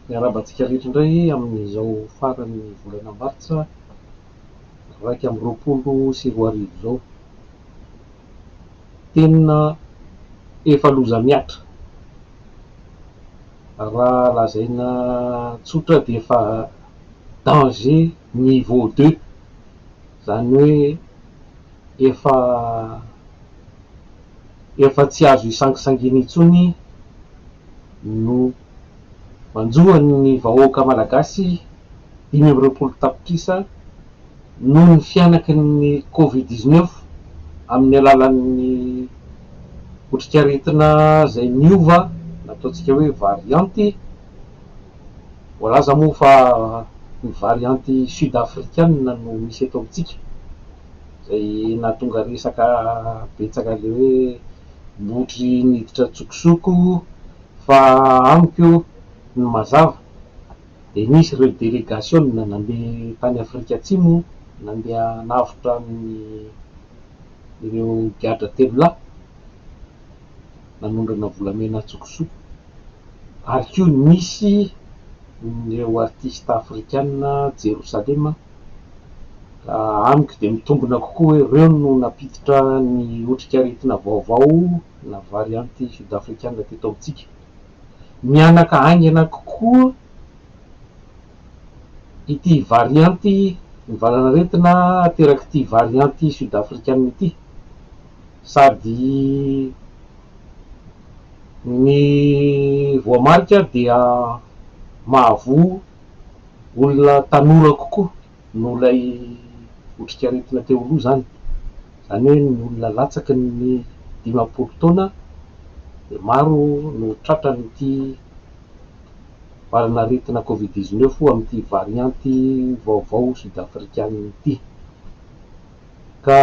Miarahaba antsika rehetra indray amin'izao faran'ny volana martsa iraika amby roapolo sy roa arivo izao. Tena efa loza mihatra. Raha lazaina tsotra dia efa danger niveau deux. Izany hoe efa efa tsy azo isangisangiana intsony no manjo an'ny vahoaka malagasy dimy amby roapolo tapitrisa noho ny fihanaky ny covid dix neuf amin'ny alalan'ny otrikaretina izay niova nataontsika hoe varianty. Voalaza moa fa ny varianty sud-afrikana no misy eto amintsika, izay nahatonga resaka betsaka ilay hoe botry niditra an-tsokosoko fa amiko ny mazava dia nisy ireo delegasiona nandeha tany Afrika Atsimo nandeha hanavotra an'ireo gadra telo lahy. nanondrana volamena an-tsokosoko ary koa nisy ireo artista afrikana Jerosalema amiko dia mitombina kokoa hoe ireo no nampiditra ny otrikaretina vaovao na variante sud-afrikana teto amintsika. Mihanaka haingana kokoa ity variante ny valanaretina aterak'ity variante sud-afrikana ity. sady ny voamarika dia mahavoa olona tanora kokoa noho ilay otrikaretina teo aloha izany, izany hoe ny olona latsaky ny dimampolo taona dia maro no tratran'ity valanaretina covid dix-neuf amin'ity varianty vaovao sud-afrikana ity. Ka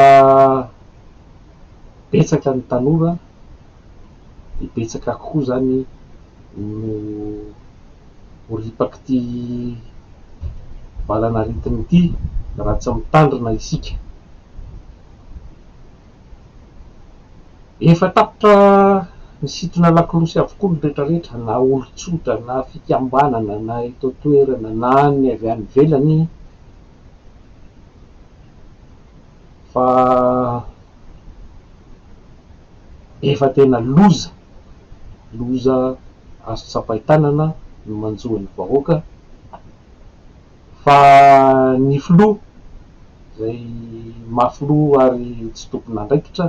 betsaka ny tanora dia betsaka koa izany no ho ripak'ity valan'aretina ity raha tsy mitandrina isika. Efa tapitra nisintona lakolosy avokoa ny retraretra na olon-tsotra na fikambanana na eto an-toerana na ny avy any ivelany. Fa efa tena loza, loza azo tsapain-tanana no manjo an'ny vahoaka, fa ny filoha izay maha filoha ary tsy tompon'andraikitra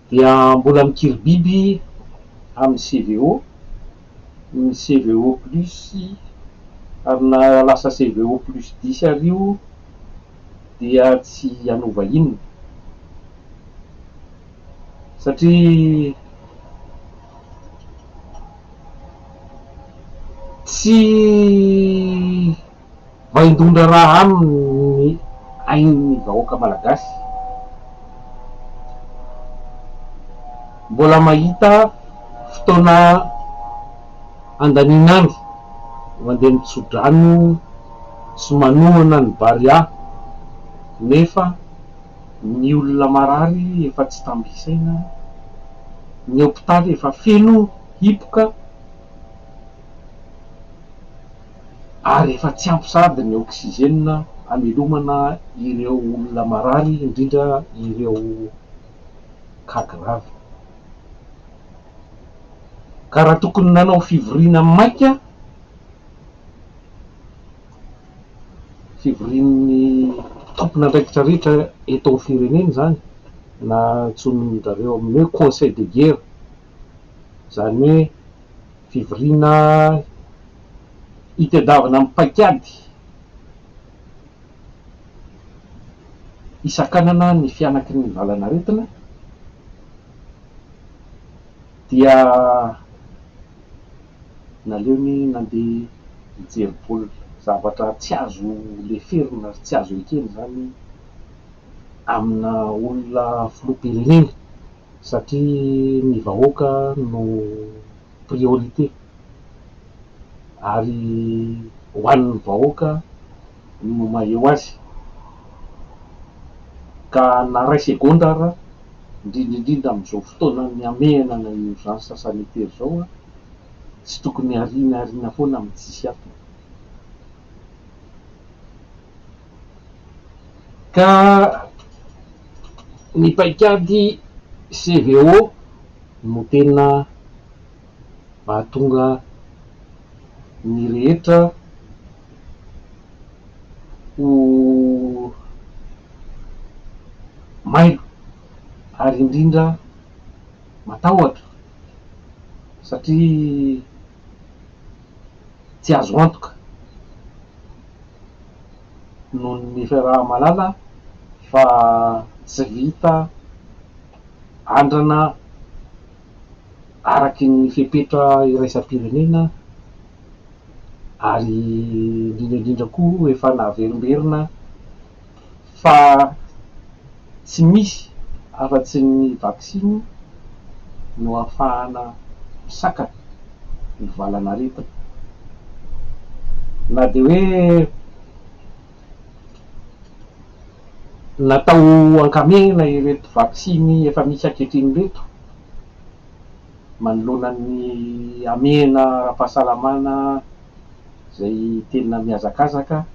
dia mbola mikiribiby amin'ny CVO. ny CVO plus ary na lasa CVO plus dix ary io dia tsy hanova inona satria tsy Vaindohan-draharaha amin'ny ain'ny vahoaka malagasy. Mbola mahita fotoana andanin'andro mandeha mitso-drano sy manohana ny Barea nefa ny olona marary efa tsy tamby isaina, ny hopitaly efa feno hipoka. ary efa tsy ampy sady ny oxygène hamelomana ireo olona marary indrindra ireo cas grave ka raha tokony nanao fivoriana maika fivorian'ny tompon'andraikitra rehetra eto amin'ny firenena izany na antsoin-dRareo amin'ny hoe conseil de guerre izany hoe fivoriana itadiavana amin'ny paikady hisakanana ny fihanaky ny valanaretina dia naleony nandeha hijery baolina, zavatra tsy azo leferina ary tsy azo ekena izany amina olona filoham-pirenena. satria ny vahoaka no priorité ary ho an'ny vahoaka no maheo azy ka na ray segondra ara indrindra indrindra amin'izao fotoana mihamehana na urgence sanitaire izao a tsy tokony hariana hariana foana amin'ny tsisy antony. Ka ny paikady CVO no tena mahatonga ny rehetra ho mailo ary indrindra matahotra satria. tsy azo antoka noho ny fiaraha-malala fa tsy vita andrana araky ny fepetra iraisam-pirenena ary indrindra indrindra koa efa naverimberina fa tsy misy afa-tsy ny vaksiny no ahafahana misakana ny valan'aretina. Na dia hoe natao ankamehana ireto vaksiny efa misy ankehitriny ireto manoloana ny hamehana ara-pahasalamana izay tena mihazakazaka,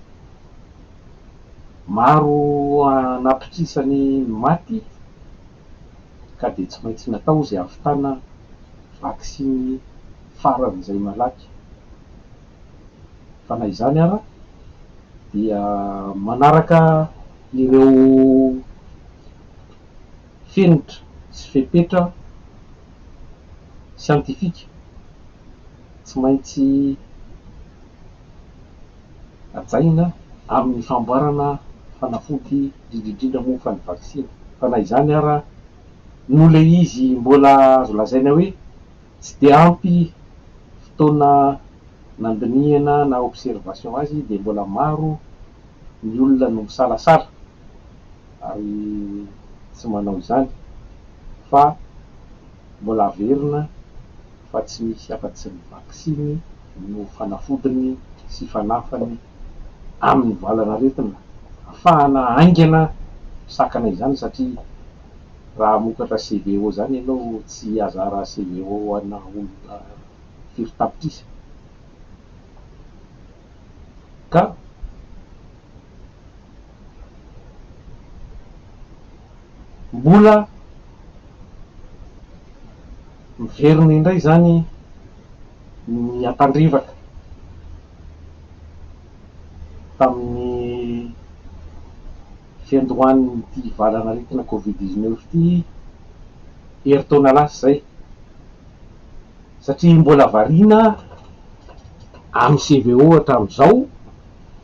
Maro anatokisany ny maty ka dia tsy maintsy natao izay hahavitana vaksiny faran'izay malaky. Fa na izany ara dia manaraka ireo fenitra sy fepetra siantifika tsy maintsy. hajaina amin'ny famboarana fanafody indrindra indrindra moa fa ny vaksiny fa na izany ara no le izy mbola azo lazaina hoe tsy dia ampy fotoana nandinihana na observation azy dia mbola maro ny olona no misalasala ary tsy manao izany fa mbola averina fa tsy misy afa-tsy ny vaksiny no fanafodiny sy fanafany amin'ny valan'aretina afahana haingana misakana izany satria raha hamokatra CVO izany ianao tsy hihazara CVO ana olona firy tapitrisa ka Mbola miverina indray izany ny ampandrevaka tamin'ny fiandohan'ity valan'aretina covid dix neuf ity herintaona lasa izay, satria mbola variana amin'ny CVO hatramin'izao.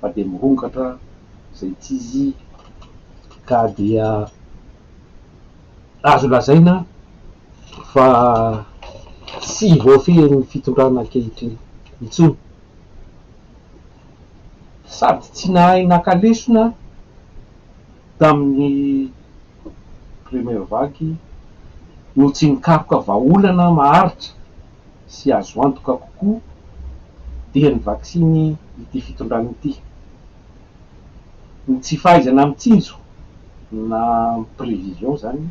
fa dia mirongatra izay tsy izy ka dia azo lazaina fa tsy voafehin'ny fitondrana ankehitriny intsony. Sady tsy nahay naka lesona tamin'ny première vague no tsy nikaroka vahaolana maharitra. sy azo antoka kokoa dia ny vaksiny ity fitondrana ity. Ny tsy fahaizana mitsinjo na prévision izany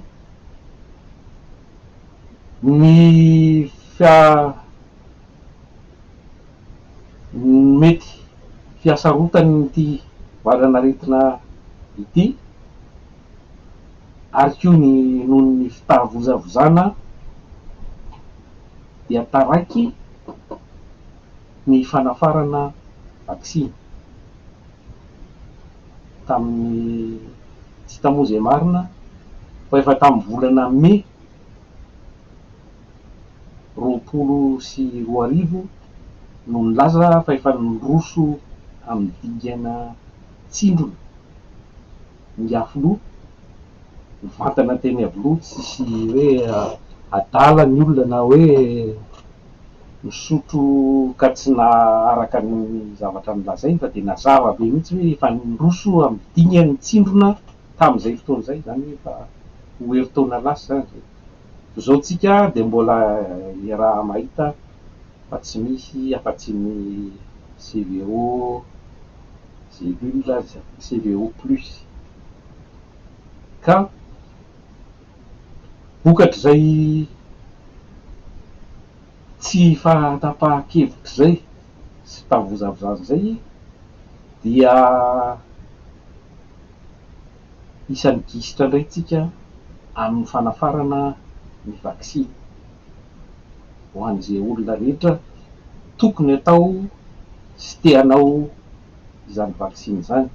ny mety fihasarotan'ity valan'aretina ity. ary koa ny noho ny fitavozavozana dia taraiky ny fanafarana vaksiny tamin'ny tsy hita moa izay marina fa efa tamin'ny volana mey roapolo sy roa arivo no nilaza fa efa niroso amin'ny dingana tsindrona. ny afiloha mivantana teny aviloha tsisy hoe adala ny olona na hoe misotro ka tsy naharaka ny zavatra nolazainy fa dia nazava be mihitsy hoe efa niroso amin'ny dingany ny tsindrona tamin'izay fotoana izay, izany hoe efa ho herintaona lasa izany izay. Zao tsika dia mbola iaraha mahita fa tsy misy afa tsy ny CVO Cellule aza, CVO plus. Ka vokatr'izay tsy fahatapahan-kevitra izay sy fahavozaavozana izay dia. isan'ny gisitra indray isika amin'ny fanafarana ny vaksiny ho an'izay olona rehetra tokony hatao sy te hanao izany vaksiny izany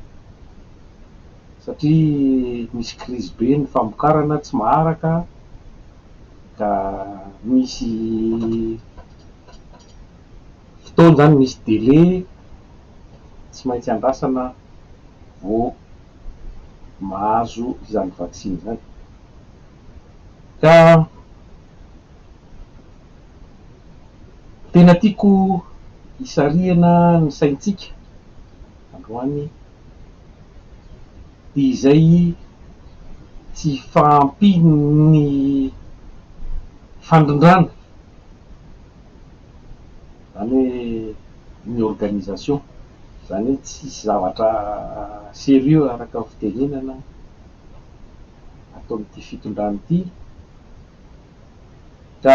satria misy krizy be ny famokarana tsy maharaka ka misy fotoana izany, misy délai tsy maintsy andrasana vao. mahazo izany vaksiny izany. Ka tena tiako hisarihana ny saintsika androany dia izay tsy fahampian'ny fandrindrana. izany hoe ny organisation, izany hoe tsisy zavatra sérieux araka ny fitenenana ataon'ity fitondrana ity ka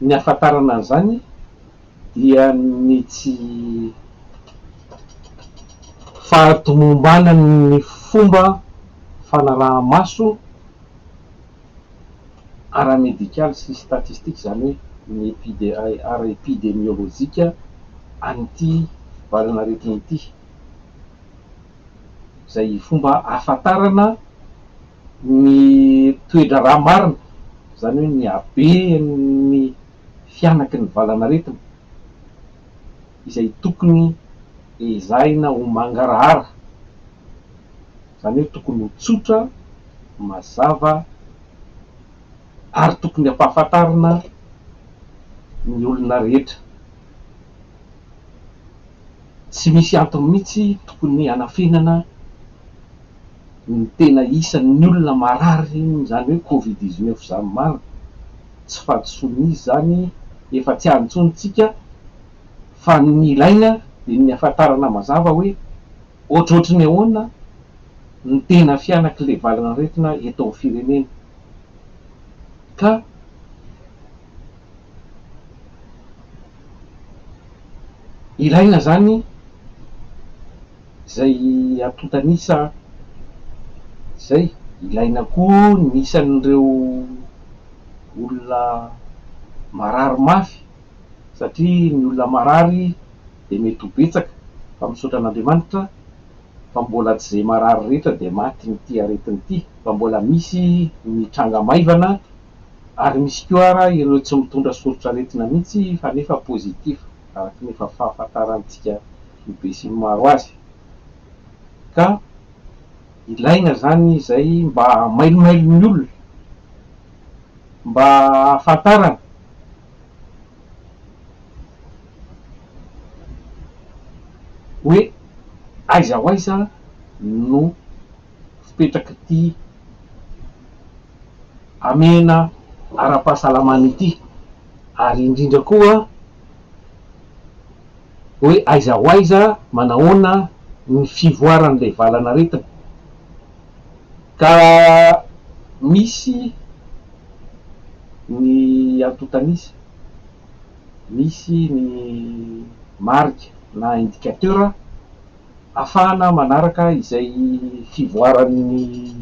ny ahafantarana an'izany, dia ny tsy fahatomombanan'ny fomba fanaraha-maso ara-medikaly sy statistika, izany hoe ny epide ara-epidemiolojika an'ity valanaretina ity, izay fomba ahafantarana ny toe-draharaha marina, izany hoe ny haben'ny. fianaky ny valanaretina izay tokony ezahina ho mangarahara, izany hoe tokony ho tsotra, mazava ary tokony ampahafantarina ny olona rehetra. Tsy misy antony mihitsy tokony hanafenana ny tena isan'ny olona marary izany hoe covid dix neuf izany maro. Tsy fahadisoan'izy izany, efa tsy any intsony isika fa ny ilaina dia ny hahafantarana mazava hoe ohatrohatry ny ahoana ny tena fihanak'ilay valin'aretina eto amin'ny firenena ka. Ilaina izany izay antontan'isa izay, ilaina koa ny isan'ireo olona marary mafy satria ny olona marary dia mety ho betsaka fa misaotra an'Andriamanitra fa mbola tsy izay marary rehetra dia matin'ity aretina ity fa mbola misy ny tranga maivana Ary misy koa ara ireo tsy mitondra soritr'aretina mihitsy fa nefa positif araka ny efa fahafantarantsika be sy ny maro azy. Ka ilaina izany izay mba hamailomailon'ny olona, mba hahafantarana. Hoe aiza ho aiza no fipetrak'ity. hamehana ara-pahasalamana ity ary indrindra koa hoe aiza ho aiza, manahoana ny fivoaran'ilay valan'aretina ka misy ny antontan'isa, misy ny marika na indicateur ahafahana manaraka izay fivoaran'ny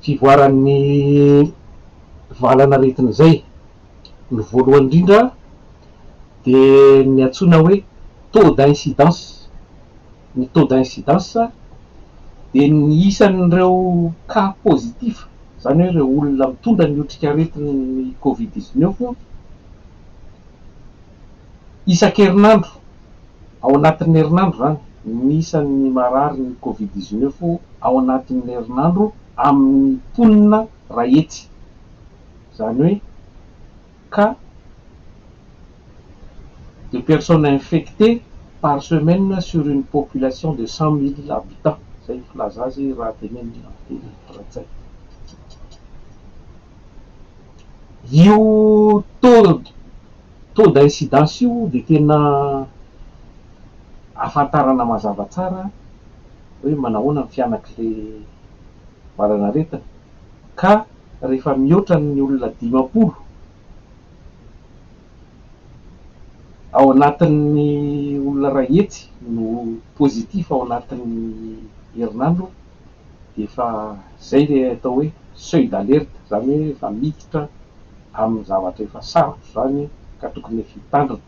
fivoaran'ny valan'aretina izay. Ny voalohany indrindra dia ny antsoina hoe taux d'incidence. Ny taux d'incidence dia ny isan'ireo cas positif, izany hoe ireo olona mitondra ny otrikaretin'ny covid dix neuf, Isan-kerinandro, ao anatin'ny herinandro izany, ny isan'ny marary ny Covid dix neuf ao anatin'ny herinandro amin'ny mponina iray hetsy, izany hoe cas de personnes infectées par semaine sur une population de cent mille habitants, izay no filaza azy raha tenenin'ny teny frantsay. Io taux d'incidence io dia tena ahafantarana mazava tsara hoe manahoana ny fianak'ilay valanaretina ka rehefa mihoatra ny olona dimampolo ao anatin'ny olona iray hetsy no positif ao anatin'ny herinandro, dia efa izay ilay atao hoe seuil d'alerte, izany hoe efa miditra amin'ny zavatra efa sarotra izany ka tokony efa hitandrina.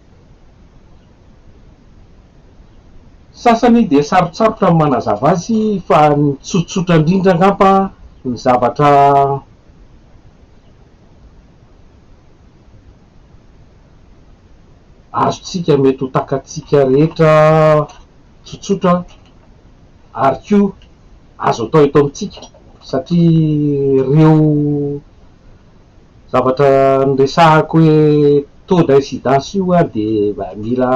Sasany dia sarotsarotra ny manazava azy fa ny tsotsotra indrindra angamba ny zavatra azontsika mety ho takatsika rehetra, tsotsotra ary koa azo atao eto amintsika satria ireo zavatra niresahako hoe taux d'incidence io ary dia mila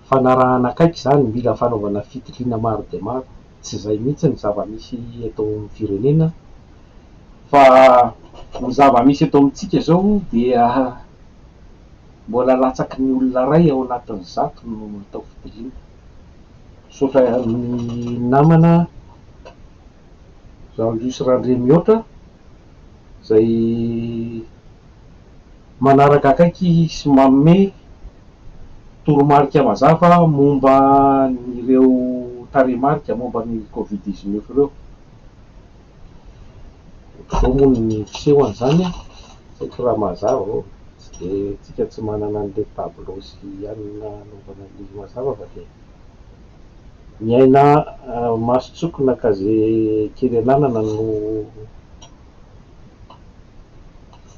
fanarahana akaiky izany, mila fanaovana fitiliana maro dia maro, tsy izay mihitsy ny zava-misy eto amin'ny firenena fa ny zava-misy eto amintsika izao dia. Mbola latsaky ny olona iray ao anatin'ny zato no atao fitiliana. Misaotra ny namana Jean Luce Randriamihoatra izay manaraka akaiky sy manome toromarika mazava momba an'ireo tarehimarika momba ny Covid dix-neuf ireo. Zao moa ny miseho an'izany an! Saingy raha mazava ô, tsy dia isika tsy manana an'ilay tableau sy anona anaovana ny mazava fa dia ny aina maso tsoky na ka ze kely ananana no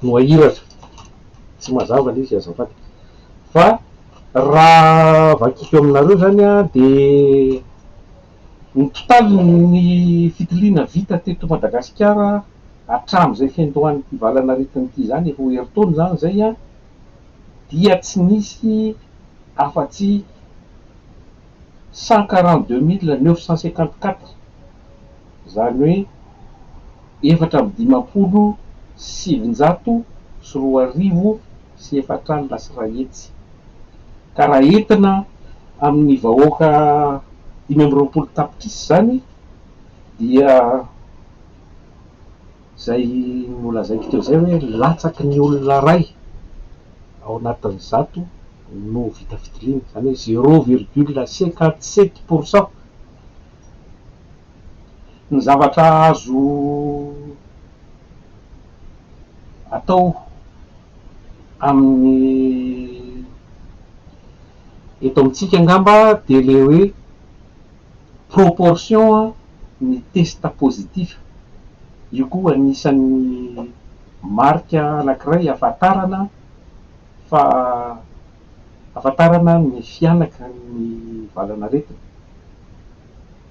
no ahiratra. Tsy mazava ilay izy azafady. Fa raha vakiko aminareo izany an dia Ny totalin'ny fitiliana vita teto Madagasikara hatramin'izay fiandohan'ity valan'aretina ity izany, roa herintaona izany izay, dia tsy nisy afa-tsy cent quarante-deux mille neuf cent cinquante-quatre, izany hoe. efatra amby dimampolo sy sivinjato sy roa arivo sy efatra alina sy iray hetsy, ka raha entina amin'ny vahoaka dimy amby roapolo tapitrisa izany dia izay nolazaiko teo izay hoe latsaky ny olona iray ao anatin'ny zato no vita fitoriana, izany hoe zéro virgule cinquante sept pourcent. Ny zavatra azo atao amin'ny eto amintsika angamba dia ilay hoe proportion ny test positif, io koa anisan'ny marika anankiray ahafantarana fa ahafantarana ny fihanaky ny valan'aretina.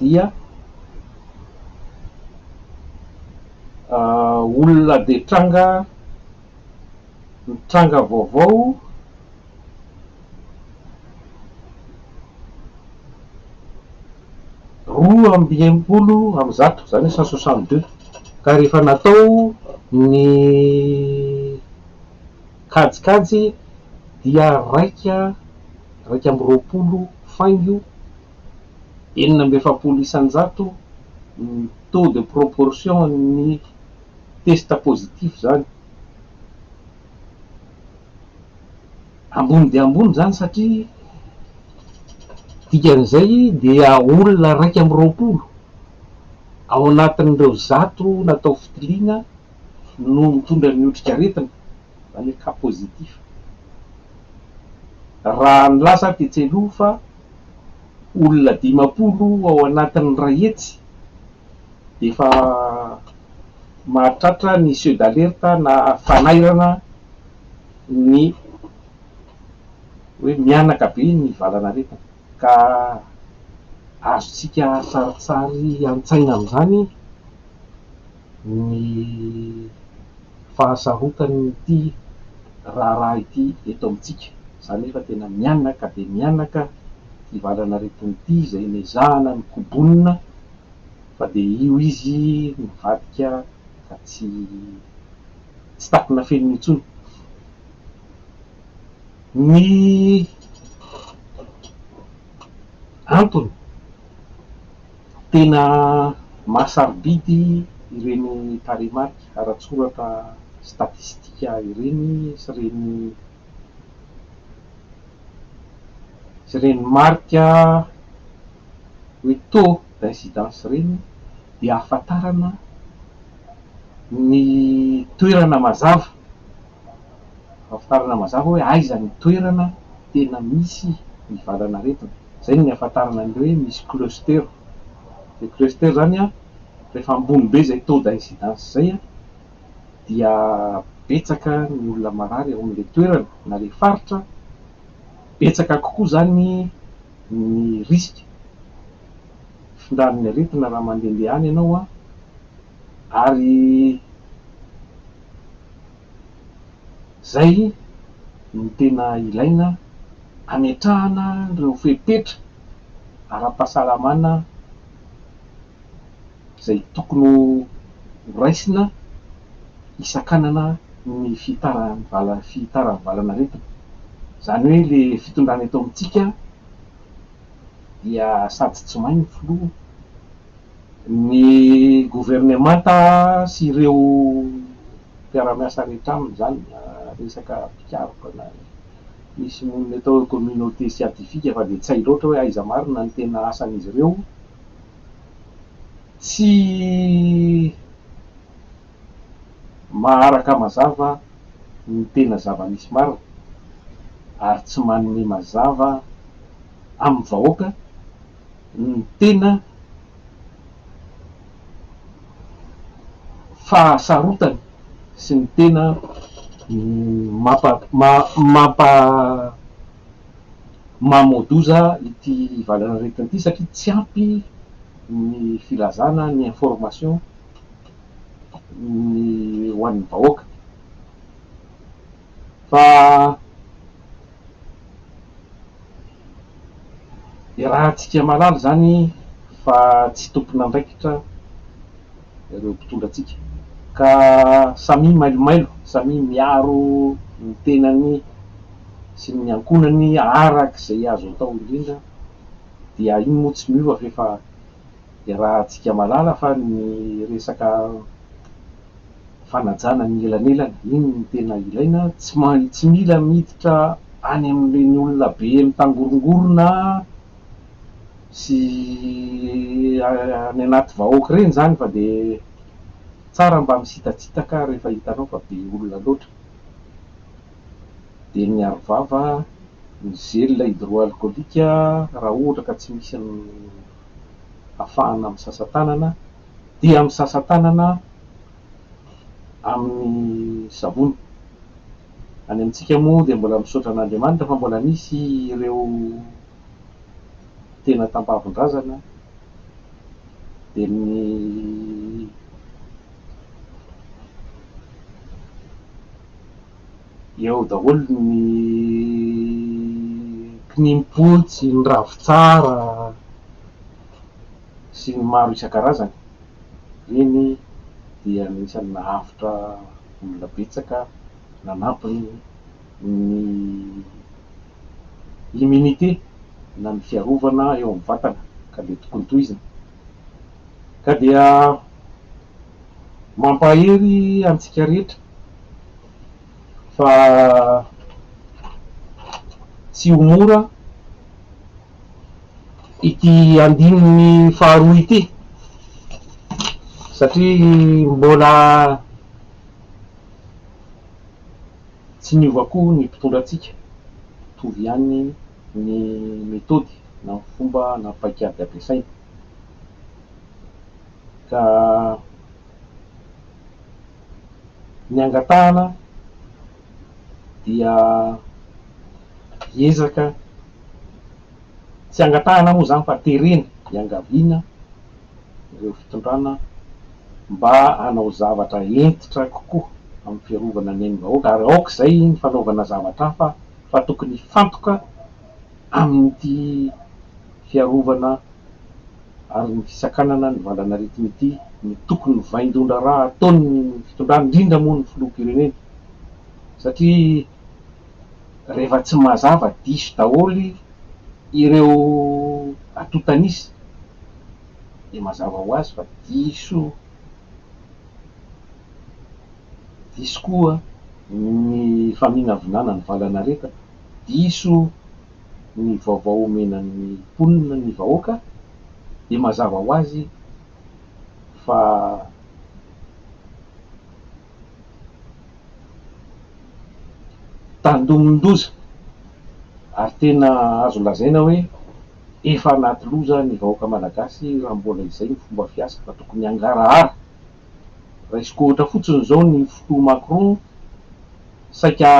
dia olona dia tranga tranga vaovao roa amby enimpolo amby zato izany hoe cent soixante deux ka rehefa natao ny Kajikajy dia raika, raika amby roapolo faingo enina amby efapolo isan-jato ny taux de proportion an'ny test positif izany. Ambony dia ambony izany satria dikan'izay dia olona raika amby roapolo ao anatin'ireo zato natao fitiliana no mitondra ny otrikaretina na le cas positif. Raha nilaza aho tetsy aloha fa olona dimampolo ao anatin'ny iray hetsy dia efa mahatratra ny seuil d'alerte na fanairana ny hoe mihanaka be ny valan'aretina ka azontsika sarintsary an-tsaina amin'izany. ny fahasarotan'ity raharaha ity eto amintsika. Za nefa tena mianaka dia mianaka ity valan'aretina ity izay nezahana ny kobonina fa dia io izy nivadika ka tsy tsy takona fenina intsony. Ny antony? Tena mahasarobidy ireny tarehimarika ara-tsoratra statistika ireny sy ireny sy ireny marika hoe taux d'incidence ireny dia ahafantarana ny toerana mazava. Ahafantarana mazava hoe aiza ny toerana tena misy ny valan'aretina. Izay no nihafantarana an'ireo hoe misy cluster. Ilay cluster izany an, rehefa ambony be izay taux d'incidence izay an, dia betsaka ny olona marary ao amin'ilay toerana na ilay faritra, betsaka kokoa izany ny risque fitondran'ny aretina raha mandehandeha any ianao an. Ary izay no tena ilaina hametrahana ireo fepetra ara-pahasalamana izay tokony ho raisina hisakanana ny fihitaran'ny valan'aretina. Izany hoe ilay fitondrana eto amintsika dia sady tsy may ny filoha, Ny governemanta sy ireo mpiara-miasa rehetra aminy izany na resaka mpikaroka na ny misy monina eto hoe communauté siatifika fa dia tsy hay loatra hoe aiza marina ny tena asan'izy ireo tsy maharaka mazava ny tena zava-misy marina ary tsy manome mazava amin'ny vahoaka ny tena fahasarotany sy ny tena mampa-mamoa-doza ity valanaretina ity satria tsy ampy ny filazana ny information ny ho an'ny vahoaka. fa iarahantsika mahalala izany fa tsy tompon'andraikitra ireo mpitondra antsika ka samia mailomailo, samia miaro ny tenany sy ny ankohonany araka izay azo atao indrindra dia iny moa tsy miova f'efa Iarahantsika mahalala fa ny resaka fanajana ny elanelana, iny no tena ilaina, tsy mila miditra any amin'ireny olona be mitangorongorona sy any anaty vahoaka ireny izany fa dia tsara mba misitatsitaka rehefa hitanao fa be olona loatra. dia ny arovava ny gel hydroalcoolique raha ohatra ka tsy misy ny afahana misasa tanana dia misasa tanana amin'ny savony, any amintsika moa dia mbola misaotra an'Andriamanitra fa mbola misy ireo tena tampavon-drazana dia ny eo daholo ny kininim-potsy, ny ravintsara sy ny maro isan-karazany. Ireny dia anisan'ny nahavitra olona betsaka nanampy ny immunité na ny fiarovana eo amin'ny vatana ka dia tokony tohizina ka dia. Mampahery antsika rehetra fa tsy ho mora ity andininy faharoa ity satria mbola tsy niova koa ny mpitondra antsika, mitovy ihany ny metody na ny fomba na ny paikady ampiasaina. ka ny angatahana dia ezaka, tsy angatahana moa izany fa terena iangaviana ireo fitondrana mba hanao zavatra hentitra kokoa amin'ny fiarovana ny ain'ny vahoaka ary aoka izay ny fanaovana zavatra hafa fa tokony hifantoka amin'ity fiarovana ary ny fisakanana ny valan'aretina ity no tokony ho vaindohan-draharaha ataon'ny fitondrana, indrindra moa ny filoham-pirenena satria rehefa tsy mazava diso daholo ireo atotan'isa dia mazava ho azy fa diso diso koa ny faminavinana ny valan'aretina, diso. ny vaovao omena ny mponina ny vahoaka dia mazava ho azy fa tandindoza ary tena azo lazaina hoe efa anaty loza ny vahoaka malagasy raha mbola izay ny fomba fiasa fa tokony hangarahara Raisiko ohatra fotsiny izao ny fotoa Macron saika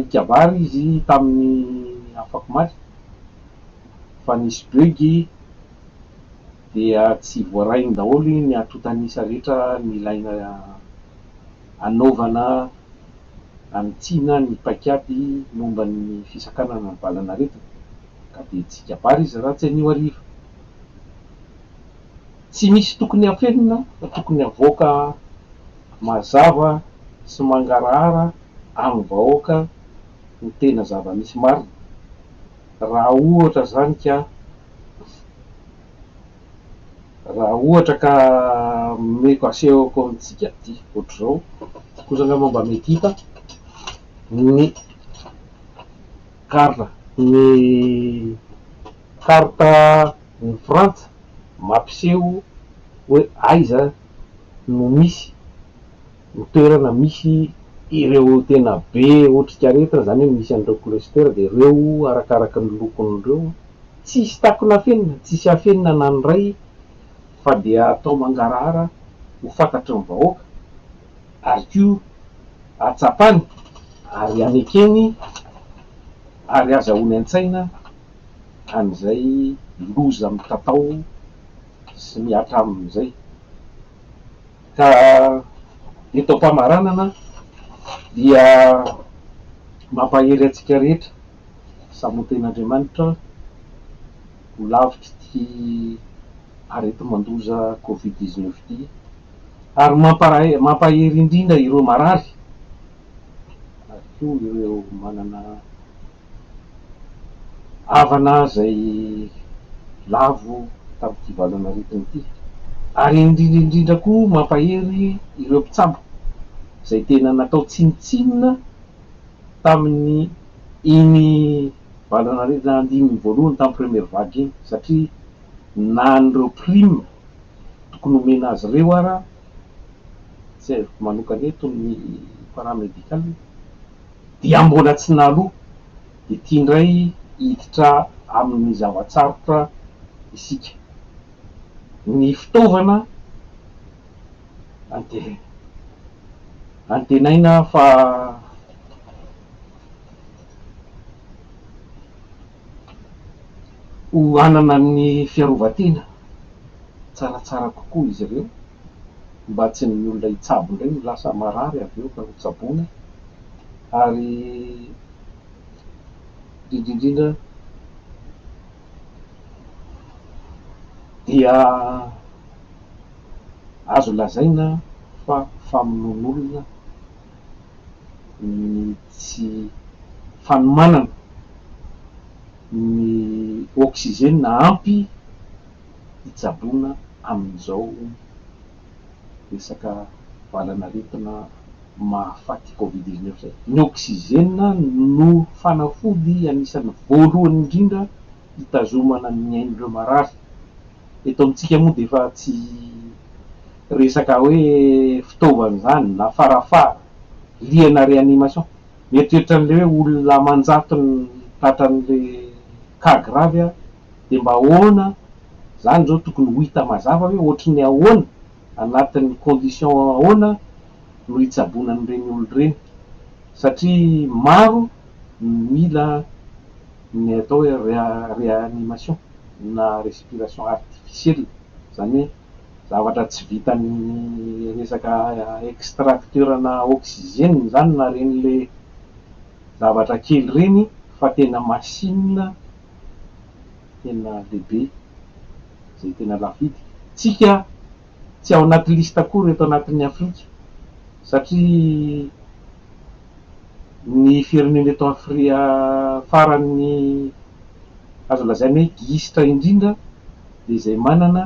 hikabary izy tamin'ny afakomaly fa nisy bug dia tsy voarainy daholo ny antotan'isa rehetra nilaina hanaovana hanitsiana ny paikady momba ny fisakanana ny valan'aretina ka dia tsy hikabary izy raha tsy anio hariva. Tsy misy tokony hafenina fa tokony havoaka mazava sy mangarahara amin'ny vahoaka ny tena zava-misy marina. Raha ohatra izany ka raha ohatra ka omeko asehoko amintsika aty ohatr'izao, kosa angamba mba mety hita ny carte ny carte ny Frantsa. mampiseho hoe aiza no misy ny toerana misy ireo tena be otrikaretina, izany hoe misy an'ireo cluster dia ireo arakaraka ny lokony ireo, tsy hisy takona afenina, tsy hisy afenina na ny iray fa dia atao mangarahara ho fantatry ny vahoaka ary koa hatsapany ary hanekeny ary hazahoany an-tsaina. an'izay loza mitatao sy mihatra aminy izay. Ka eto am-pamaranana dia mampahery antsika rehetra saboten'Andriamanitra ho lavitr'ity areti-mandoza covid dix neuf ity ary mampahery indrindra ireo marary ary koa ireo manana havana izay lavo tamin'ity valanaretina ity, ary indrindra indrindra koa mampahery ireo mpitsabo izay tena natao tsinontsinona tamin'ny iny valanaretina andininy voalohany tamin'ny première vague iny satria na an'ireo prime tokony homena azy ireo ara tsy haiko manokana eto ny para-medical Dia mbola tsy naloa, dia tia indray hiditra amin'ny zava-tsarotra isika. Ny fitaovana antenaina fa. Ho hanana ny fiarovan-tena tsaratsara kokoa izy ireo. mba tsy ny olona hitsabo indray no lasa marary avy eo ka ho tsaboina ary indrindra indrindra dia azo lazaina fa famonoan'olona ny tsy fanomanana ny oxygène ampy hitsaboana amin'izao resaka valan'aretina mahafaty covid dix neuf izay. Ny oxygène no fanafody anisan'ny voalohany indrindra hitazomana ny ain'ireo marary. Eto amintsika moa dia efa tsy resaka hoe fitaovana izany na farafara, liana réanimation. Mieritreritra an'ilay hoe olona aman-jatony tratran'ilay cas grave aho. dia mba ahoana izany izao tokony ho hita mazava hoe ohatry ny ahoana, anatin'ny condition ahoana no hitsaboana an'ireny olona ireny satria maro no mila ny atao hoe réanimation na respiration artificielle, izany hoe zavatra tsy vitan'ny resaka extracteur-na oxygène izany na ireny ilay zavatra kely ireny fa tena machine. tena lehibe, izay tena lafo vidy. Tsika tsy ao anaty liste akory eto anatin'ny Afrika satria ny firenena eto Afrika faran'ny azo lazaina hoe gisitra indrindra dia izay manana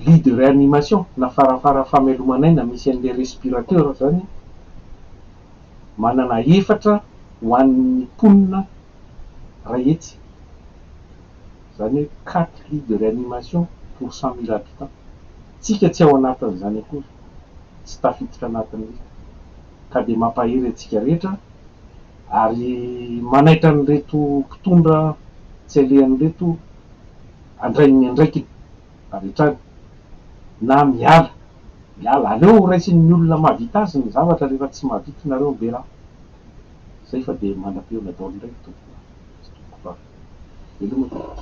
lit de reanimation na fara fara fameloman'aina misy an'ilay respirateur izany. manana efatra ho an'ny mponina iray hetsy, izany hoe quatre lits de réanimation pour cent mille habitants. Tsika tsy ao anatin'izany akory, tsy tafiditra anatin'ny ka dia mampahery antsika rehetra ary manaitra an'ireto mpitondra tsy alehany ireto handray ny andraikiny avy hatrany na miala. miala aleo ho raisin'ny olona mahavita azy ny zavatra rehefa tsy mahavita nareo ny bera zay fa de manam-peona daolo ndraiky tompoko sy tompoko vavy veloma tompoko.